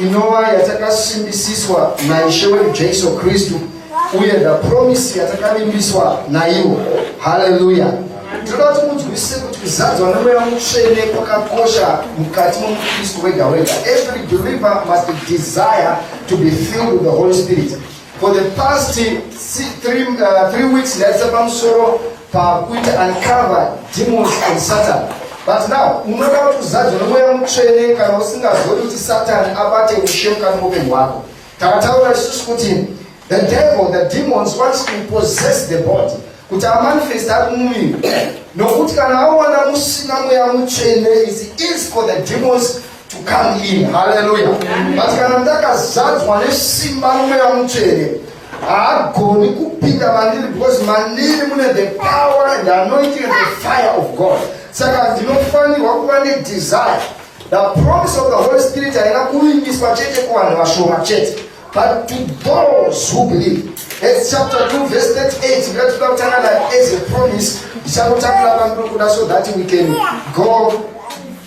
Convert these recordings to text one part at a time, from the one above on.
inova yatakasimbisiswa naishe wedu jesu kristu uye the promise yatakavimbiswa naivo haleluya tinoda kuti munzwisise kuti kuzadzwa nemweya mutsvene kwakakosha mukati momukristu wega wega every believer must desire to be filled with the holy spirit For the past three, three, uh, three weeks ndaisa pamusoro pakuita uncover demons and satan but now unoda kuti uzadzwe nomweya mutsvene kana usingazodi kuti satani abate ushe mukati moupenyu hwako takataura isusu kuti the devil the demons wants to possess the body kuti amanifest ari mumuviri nokuti kana awana musina mweya mutsvene is easy for the demons to come in haleluya but kana ndakazadzwa nesimba nomweya mutsvene haagoni kupinda mandiri because mandiri mune the power and anointing and the fire of god saka ndinofanirwa kuva nedesire the promise of the holy spirit haina kuvimbiswa chete kuvanhu vashoma chete but to those who believe as chapter 2 verse 38 ngatida kutanga nayo as a promise ndichakutangura pandiri kuda so that we can go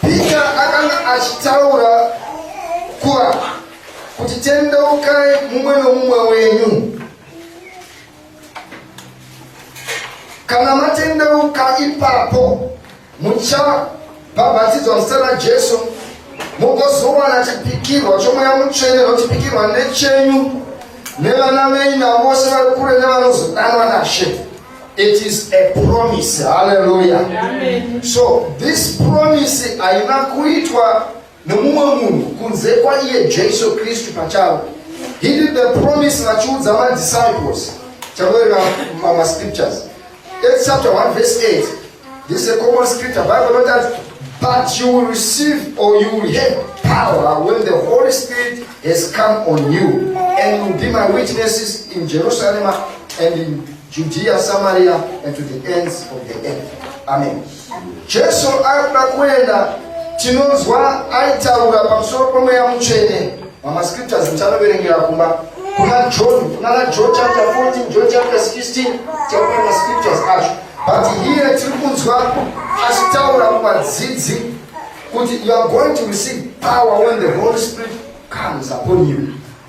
Peter akanga achitaura kuva kuti tendeukai mumwe nomumwe wenyu kana matendeuka ipapo muchabhabhatidzwa muzita rajesu mugozowana chipikirwa chomweya mutsvene nochipikirwa nechenyu nevana venyu navose vari kure nevanozodanwa nashe It is a promise. Hallelujah. Amen. So this promise haina kuitwa nemumwe munhu kunze kwaiye Jesu Kristu pachavo. He did the promise vachiudza madisciples. Chakuverenga mascriptures. Acts chapter 1 verse 8. This is a common scripture. Bible not that, but you will receive or you will have power when the Holy Spirit has come on you, and you will be my witnesses in Jerusalem and in Judea, Samaria, and to the ends of the earth. Amen. Jesu akuda kuenda tinonzwa aitaura pamusoro pomweya mutsvene mamascriptures ndichanoverengera kumba kuna john kuna na john chapter 14 john chapter 16 takuona mascriptures acho But here tiri kunzwa achitaura kuvadzidzi kuti you are going to receive power when the Holy Spirit comes upon you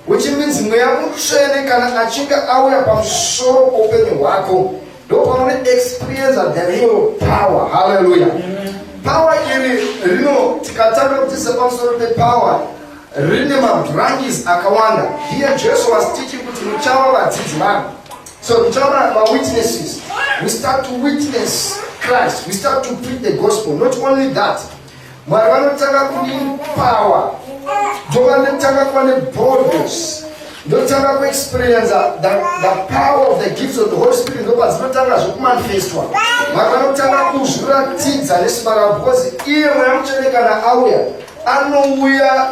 which means mweya mutsvene kana achinge auya pamusoro poupenyu hwako ndopanoone experience of the real power haleluya power iri rino tikatanga kutisa pamusoro pepower rine mabranches akawanda here jesu was teaching kuti muchava vadzidzi vangu So tichaona mawitnesses we start to witness Christ we start to preach the gospel not only that mwari vanotanga kudini power ndovanotanga kuva neboldness ndotanga kuexperienza the, the power of the gifts of the holy spirit ndopa dzinotanga zvokumanifestwa mwari vanotanga kuzviratidza nesimba ravo because iye mweya mutsvene kana auya anouya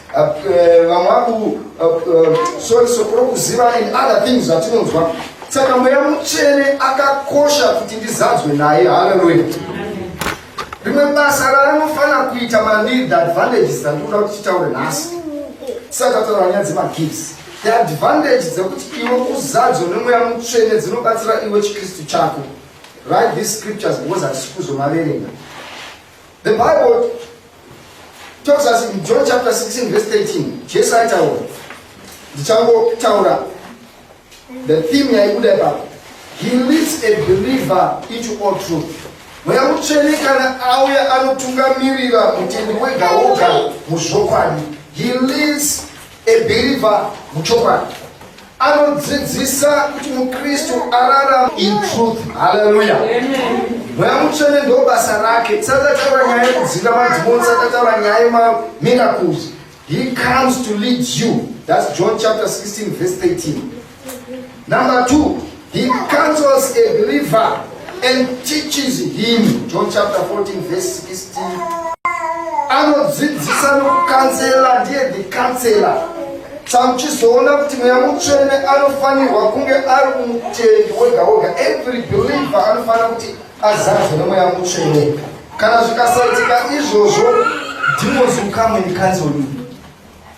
vamwe vaku sorry sokoro kuziva and other things zvatinonzwa saka mweya mutsvene akakosha kuti ndizadzwe naye haleluya rimwe basa raanofanira kuita mandiri the advantages dzandikuda kuti titaure nhasi tisati tataura nyaya dzemagifts the advantage dzekuti iwe uzadzo nemweya mutsvene dzinobatsira iwe chikristu chako write these scriptures because hatisi kuzomaverenga The Bible tells us in John chapter 16 verse 13, Jesu aitaura, ndichangotaura the theme yaibuda ipapo, he leads a believer into all truth. Mweya mutsvene kana auya anotungamirira mutendi wega woga muzvokwadi, he leads a believer muchokwadi. anodzidzisa kuti mukristu ararama in truth haleluya mweya mutsvene ndo basa rake tisati tataura nyaya yekudzinga madzimoni tisati tataura nyaya yemamiracles he comes to lead you thats john chapter 16 verse 13 number two He counsels a believer and teaches him. John chapter 14 verse 16. Anodzidzisa nokukanzela ndiye the counselor. Samuchizoona kuti mweya mutsvene anofanirwa kunge ari kumutendi wega wega. Every believer anofanira kuti azadzwe nemweya mutsvene. Kana zvikasaitika izvozvo, demons will come and cancel you.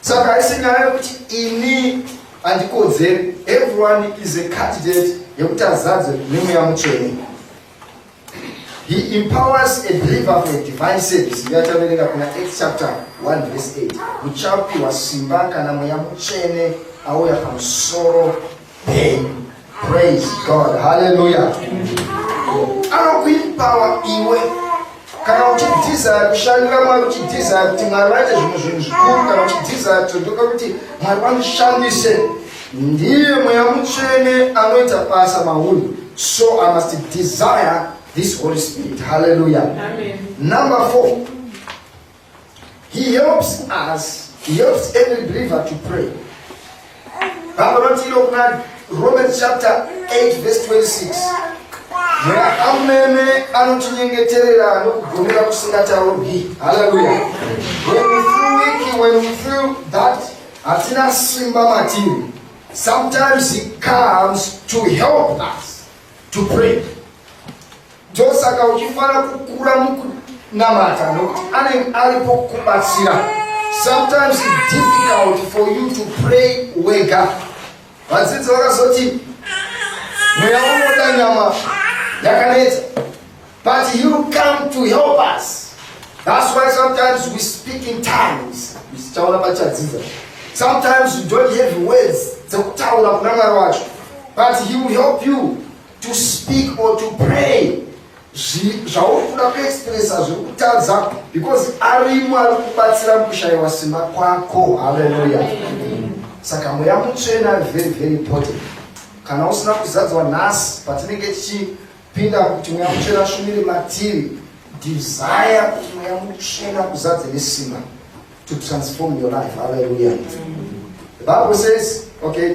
Saka haisi nyaya yekuti ini handikodzeri. Everyone is a candidate yekuti azadze nemweya mutsvene. He empowers a believer for a divine service. Iye achaverenga kuna Acts chapter 1 verse 8. Muchapiwa simba kana mweya mutsvene auya pamusoro Amen. Praise God. Hallelujah. Anokuipawa iwe kana uchidhiza kushandira mwari uchidhiza kuti mwari vaite zvimwe zvinhu zvikuru kana uchidhiza todoka kuti mwari vamushandise ndiye mweya mutsvene anoita basa mauri so i must desire this holy spirit hallelujah Amen. number four He helps us, he helps every believer to pray. Baba vanoti ilo kuna Romans chapter 8 verse 26. Mweya amene anotinyengeterera nokugomera kusingataurwi. Hallelujah. When we feel weak, when we feel that hatina simba matiri. Sometimes he comes to help us to pray. ndosaka uchifanira kukura mukunamata nokuti anenge aripo kukubatsira sometimes its difficult for you to pray wega vadzidzi vakazoti mweya unoda nyama yakanetsa but you come to help us thats why sometimes we speak in times tichaona pachadzidza sometimes you don't have words dzekutaura kuna mwari wacho but he will help you to speak or to pray zvauri kuda kuexpressa zviri kutadza because arimo ari kubatsira mukushayiwa simba kwako haleluya saka mweya mutsvena very very important kana usina kuzadzwa nhasi patinenge tichipinda kuti mweya mutsvena shumiri matiri desire kuti mweya mutsvena kuzadze nesimba to transform your life haleluya the bible says okay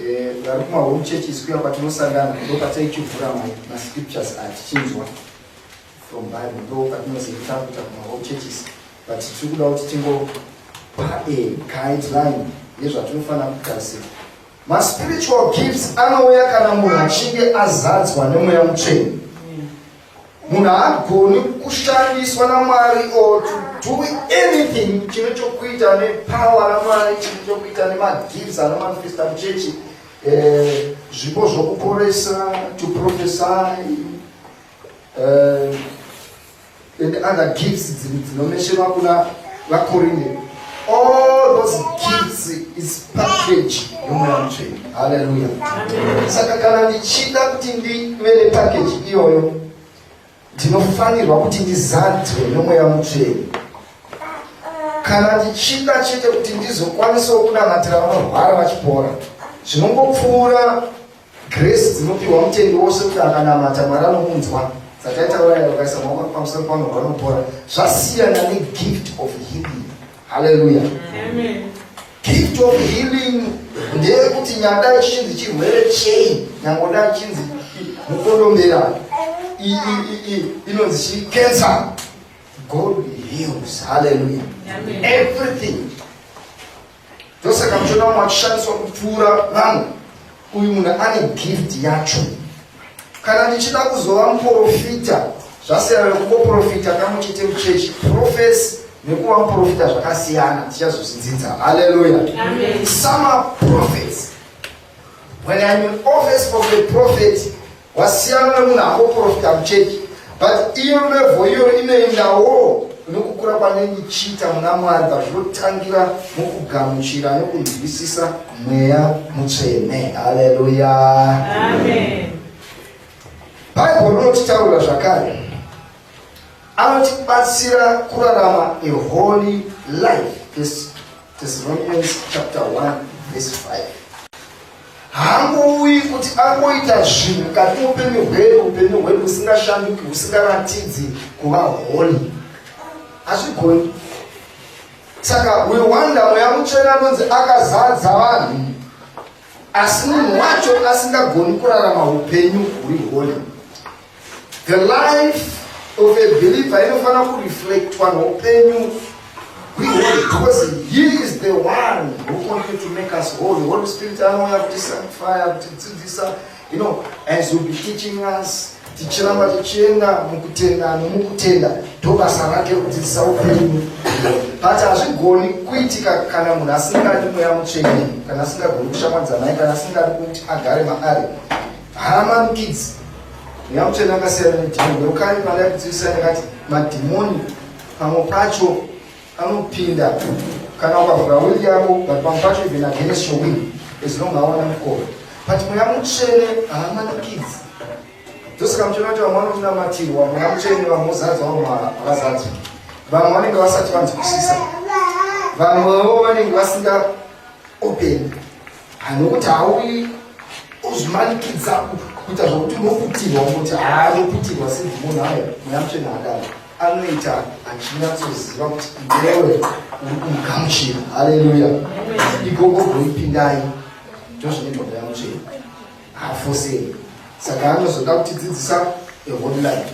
Eh, vari kuma home churches kuya kwatinosangana ndo kwataichivhura mascriptures atichinzwa from bible ndo kwatinozoita kuita kuma home churches but tiri kuda kuti tingopa a guideline yezvatinofanira kugadzira maspiritual gifts anouya kana munhu achinge azadzwa nemweya mutsveni Munhu haagoni kushandiswa naMwari or to do anything chine chokuita nepower raMwari, chine chokuita nemagifts anomanifesta muchechi, eh, zvipo zvokuporesa, to prophesy, eh, and other gifts dziri dzinomesherwa kuna vaKorinde. All those gifts is package yomweya mutsvene. Hallelujah. Saka kana ndichida kuti ndive nepackage iyoyo ndinofanirwa kuti ndizadzwe nomweya mutsvene kana ndichida chete kuti ndizokwanisawo kunamatira vanorwara vachipora zvinongopfuura Grace dzinopiwa mutendi wose kuti akanamata Mwari anomunzwa dzataitaura yayo kaisa maoko pamusoro pano vanopora zvasiyana negift of healing haleluya gift of healing ndeyekuti nyada ichinzi chirwere chei nyangoda ichinzi mukondombera inonzi chi cancer god heals haleluya everything ndosaka muchiona vamwe vachishandiswa kupfuura vamwe uyu munhu ane gift yacho kana ndichida kuzova muprofita zvasiyana nekuboprofita kamwe chete muchechi profesi nekuva muprofita zvakasiyana tichazozvidzidza halleluya samaprofets when im in office of the prophet Wasiyana nemunhu angoprofita muchechi but iyo levo iyo inoendawo nokukura kwanenge chiita muna mwari vazvinotangira mukugamuchira nokunzwisisa mweya mutsvene haleluya bhaibheri rinotitaurira zvakare anotibatsira kurarama a holy life thessalonians chapter 1 verse 5 haangouyi kuti angoita zvinhu mukati upenyu hwedu upenyu hwedu husingashanduki husingaratidzi kuva honi hazvigoni saka we wonder mweya mutsvene anonzi akazadza vanhu asi munhu wacho asingagoni kurarama upenyu huri honi The life of a believer inofanira kureflectwa noupenyu hweholy because he is the one who wanted to make us holy. Holy Spirit anouya kuti sanctify, kuti dzidzisa, you know, as will be teaching us tichiramba tichienda mukutenda nomukutenda ndobasa rake kudzidzisa upenyu but hazvigoni kuitika kana munhu asingadi mweya mutsvene kana asingagoni kushamwadzanai kana asingadi kuti agare maari Haa mami kids, nyakuchena akasiyana nedhimoni yokani mwana yakudzivisana yakati madhimoni pamwe pacho anopinda kana ukavhura wili yavo but pamwe pacho even against your will as long awana mukoro but mweya mutsvene haamana kids ndosaka muchiona kuti vamwe vanomunamatirwa mweya mutsvene vamwe vozadzwa vamwe havazadzwa vamwe vanenge vasati vanzwisisa vamwewo vanenge vasinga open Hanhu kuti hauyi uzvimanikidza kuita zvokuti unoputirwa kuti haanoputirwa sinzi munhu ayo mweya mutsvene akadaro anoita achinyatsoziva kuti iwewe uri kumugamuchira haleluya ikoko goipindai ndozvinoitwa mweya mutsvene haafosei saka anozoda kutidzidzisa eholy life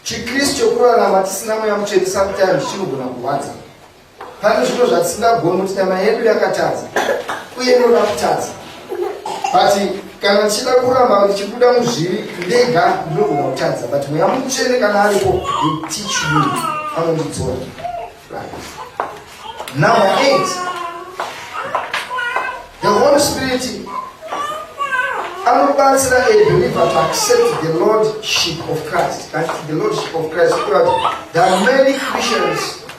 chikristu chokurarama tisina mweya mutsvene sometimes chinogona kurwadza pane zvino zvatisingagoni kuti nyama yedu yakatadza uye inoda kutadza but kana tichida kuramba ndichibuda muzvivi ndega ndinogona kutadza but mweya mutsvene kana aripo etichu anondidzora number eight the holy spirit anobatsira a believer to accept the lordship of christ the lordship of christ there are many christians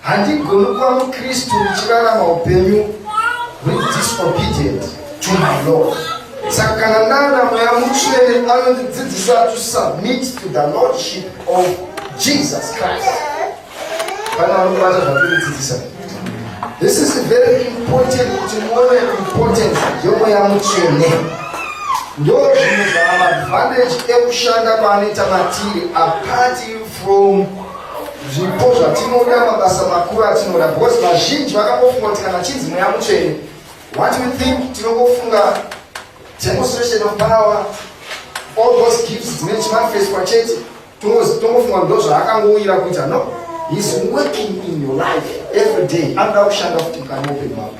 Handigoni kuva muKristu ndichirarama upenyu huri disobedient to my Lord. Saka kana nana mweya mutsvene anondidzidzisa to submit to the lordship of Jesus Christ. Kana vanobata zvakundidzidzisa. This is very important kuti muone importance yomweya mutsvene. Ndozvimwe zvamaadvantage ekushanda kwaanoita matiri apart from zvipo zvatinoda mabasa makuru atinoda because vazhinji vakangofunga kuti kana chinzi mweya mutsvene what you think tinongofunga demonstration of power all those gifts dzine chimanifestwa chete tongofunga ndo zvaakangouyira kuita no heis working in your life every day anoda kushanda kuti mukanopen mako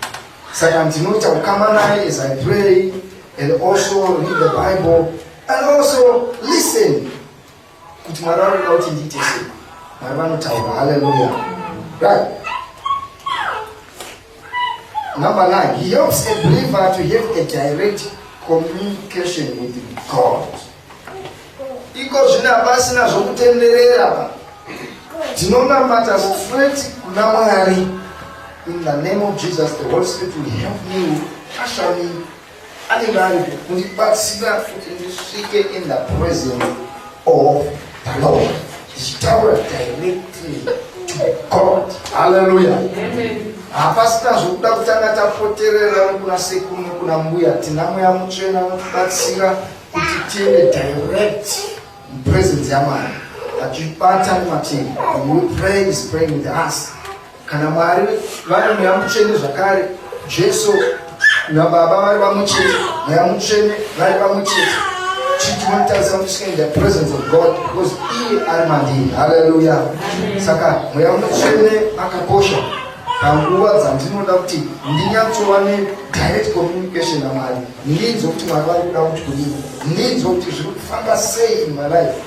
saka ndinoita kukama naye as i pray and also read the bible and also listen kuti mwari vanoda kuti ndiite sei mwari vanotaura haleluya right number nine he helps a believer to have a direct communication with god iko zvine hapasina zvokutenderera pa ndinonamata straight kuna mwari in the name of jesus the holy spirit will help you usher me anenge aripo kundibatsira kuti ndisvike in the presence of the lord ndichitaura directly to god halleluya hapasina zvokuda kutanga tapoterera nekuna sekuru nekuna mbuya tina mweya mutsvena unotibatsira kuti tiende direct mupresence yamwari achibata nemativi and we pray is praying with us kana mwari vari mweya mutsvene zvakare jesu nababa vari vamwe chete mweya mutsvene vari vamwe chete chitinotarisa kuti tikaenda presence of god because iye ari mandiri haleluya saka mweya mutsvene akakosha panguva dzandinoda kuti ndinyatsova nedirect communication namwari ndinzwa kuti mwari vari kuda kuti kudii ndinzwa kuti zviri kufamba sei in my life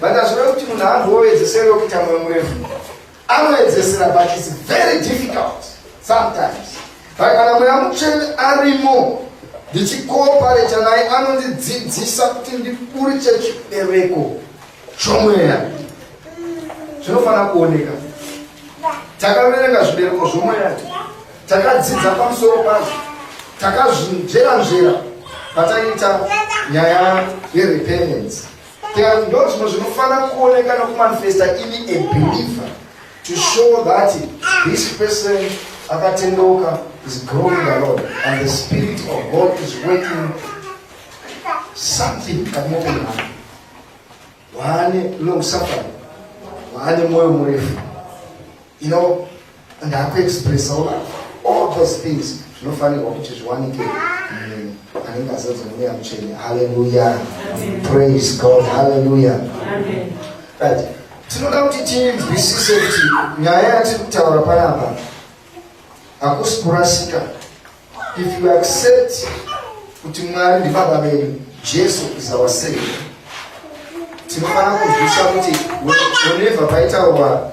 Vakazviona kuti munhu haangoedzeseri wekuita moyo murefu. Anoedzesera but it's very difficult sometimes. But kana mweya mutsvene arimo ndichikoopareta naye anondidzidzisa kuti ndiburiche chibereko chomweya. Zvinofanira kuoneka. Takaverenga zvibereko zvomweya. Takadzidza pamusoro pazvo. Takazvinzvera nzvera pataiita nyaya yerepentance. There are no zvimwe zvinofanira kuoneka nokumanifesta ini a believer to show that this person akatendeuka is growing the Lord and the spirit of God is working something kati mopeni hana waane long suffering waane moyo murefu you know Ndakuexpressawo all those things zvinofanirwa kuti zviwanike munhu anenge azadzwa nemweya mutsvene. Haleluya. Praise God. Haleluya. Amen. Right. Tinoda kuti tinzwisise kuti nyaya yatiri kutaura panapa hakusi kurasika if you accept kuti mwari ndibaba vedu jesu is our savior tinofanira kuzvisa kuti whenever paitaurwa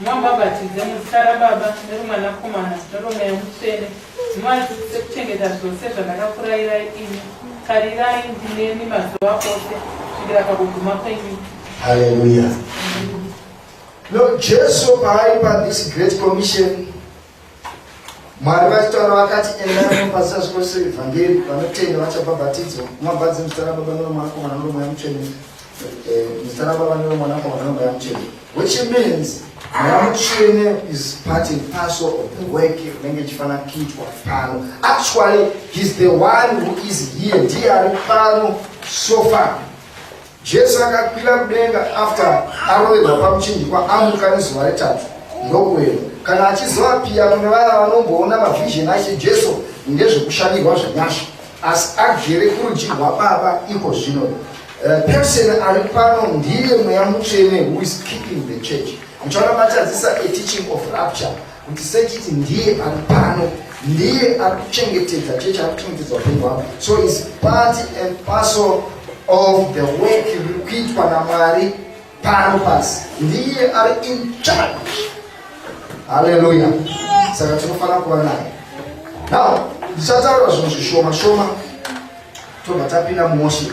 Mumabhabhatidze muzita raBaba neroMwanakomana neroMweya Mutsvene, muvadzidzise kuchengeta zvose zvandakakurayirai imi. Tarirai, ndinemi mazuva ose kusvikira pakuguma kwenyika. Hallelujah. Lord Jesus, I by this great commission, Mwari vachitaura vakati endai mumapasi azvikwese evhangeri vanotenda vachabhabhatidzwa kumabhadzi muzita rababa noromwanakomana noromweya mutsvene eh, muzita rababa noromwanakomana noromweya mutsvene which means mweya mutsvene is part and parcel of the work unenge ichifanira kuitwa pano actually he's the one who is here ndiye ari pano so far Jesu akakwira kudenga after aroverwa pamuchinjikwa amuka nezuva retatu ndokuenda kana achizova piya kune vaya vanomboona mavision ache Jesu ngezvekushandirwa zvenyasha asi agere kurudyi rwababa iko zvino eh, person ari pano ndiye mweya mutsvene who is keeping the church muchaona matadzisa a teaching of rapture kuti sechiti ndiye ari pano ndiye ari kuchengetedza chechi ari kuchengetedza upenyu hwavo so is part and parcel of the work riri kuitwa namwari pano pasi ndiye ari in charge haleluya saka tinofanira kuva naye now ndichataura zvinhu zvishoma shoma tobva tapinda mumoship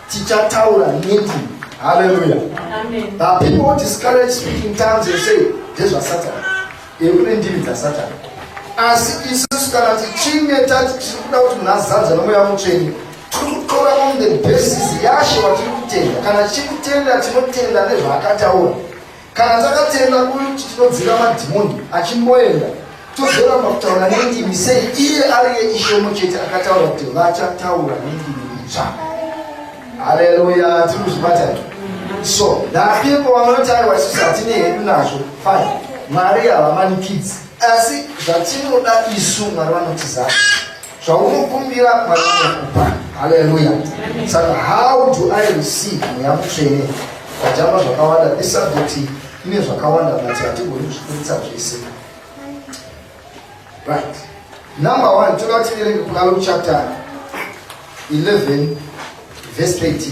tichataura niti haleluya but people who discourage speaking tongues and say ndezvasatani ekuti ndiri dzasatani asi isusu kana tichinge tati tiri kuda kuti munhu azanza nomweya mutsvene tiri kutora on the basis yashe watiri kutenda kana tichiri kutenda tinotenda nezvaakataura Kana takatenda kuti tinodzinga madhimoni achimboenda tozoramba kutaura nendimi sei iye ariye ishomo chete akataura kuti vachataura nendimi itsva haleluya tiri kuzvibatani so napipo vanoti aiwa isusu hatine hedu nazvo fine mwari havamanikidzi asi zvatinoda isu mwari vanotizaa zvaunokumbira mwari anokupa haleluya saka how do i receive mweya mutsvene tajamba zvakawanda this subject ine zvakawanda but hatigoni kuzvikurisa zvese right number one toda kuti verenge kuna luke chapter 11 verse 13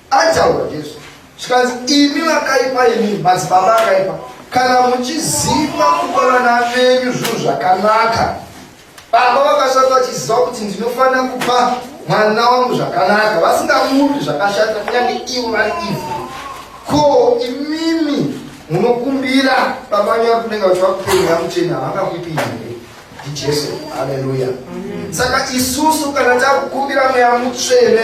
Ataura Jesu zvikanzi imi vakaipa imi madzibaba akaipa kana muchiziva kupa vana venyu zvinhu zvakanaka baba vakashata vachiziva kuti ndinofanira kupa mwana wangu zvakanaka vasingamupi zvakashata kunyange ivo vari ivhu ko imimi munokumbira baba nyari kunenge vachivakupenyu vamuchena havangakupinda ndijesu haleluya saka isusu kana takukumbira mweya mutsvene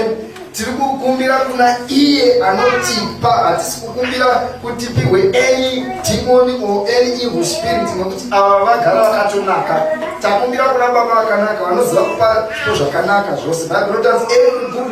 tiri kukumbira kuna iye anotipa hatisi kukumbira kuti pihwe any demoni or any evil spirit nokuti ava vagara vakatonaka takumbira kuna baba vakanaka vanoziva kupa zvo zvakanaka zvose baibo rinotanzi every good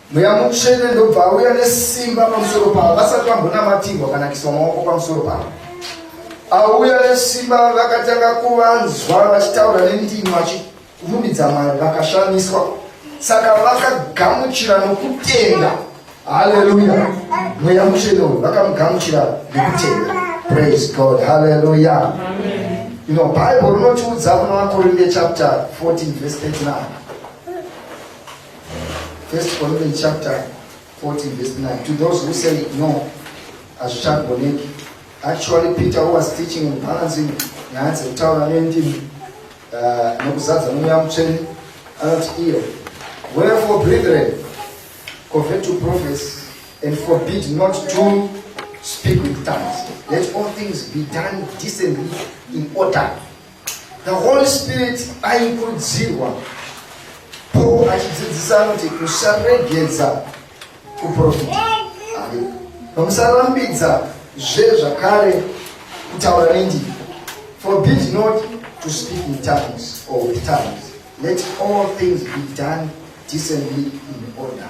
mweya mutsvene ndobva auya nesimba pamusoro pavo vasati vambonamatirwa kana kiswa maoko pamusoro pavo auya nesimba vakatanga kuvanzwa vachitaura nendimi vachirumbidza mwari vakashamiswa saka vakagamuchira nokutenda haleluya mweya mutsvene uyu vakamugamuchira nokutenda praise god haleluya you know bible rinotiudza kuna vakorinde chapter 14 verse 39 First Corinthians chapter 14 verse 9. To those who say no, hazvichagoneki. Actually, Peter who was teaching and balancing nyaya dzekutaura nendimi uh, nokuzadza nomweya mutsvene anoti iyo wherefore brethren convert to prophets and forbid not to speak with tongues let all things be done decently in order The Holy Spirit aikurudzirwa Paul achidzidzisa kuti musaregedza kuprofita vamusarambidza zve zvakare kutaura nendimi forbid not to speak in tongues or with tongues let all things be done decently in order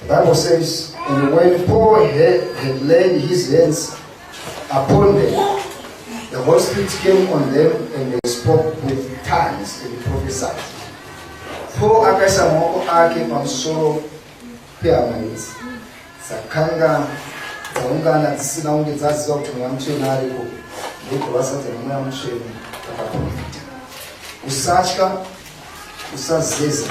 The Bible says, and when Paul had, had laid his hands upon them, the Holy Spirit came on them and they spoke with tongues and prophesied. Paul akaisa maoko ake pamusoro pehama idzi dzakanga dzaungana dzisina kunge dzaziva kuti mweya mutsvene ariko ndokuvasa dzemweya mutsvene akaprofita usatya usazeza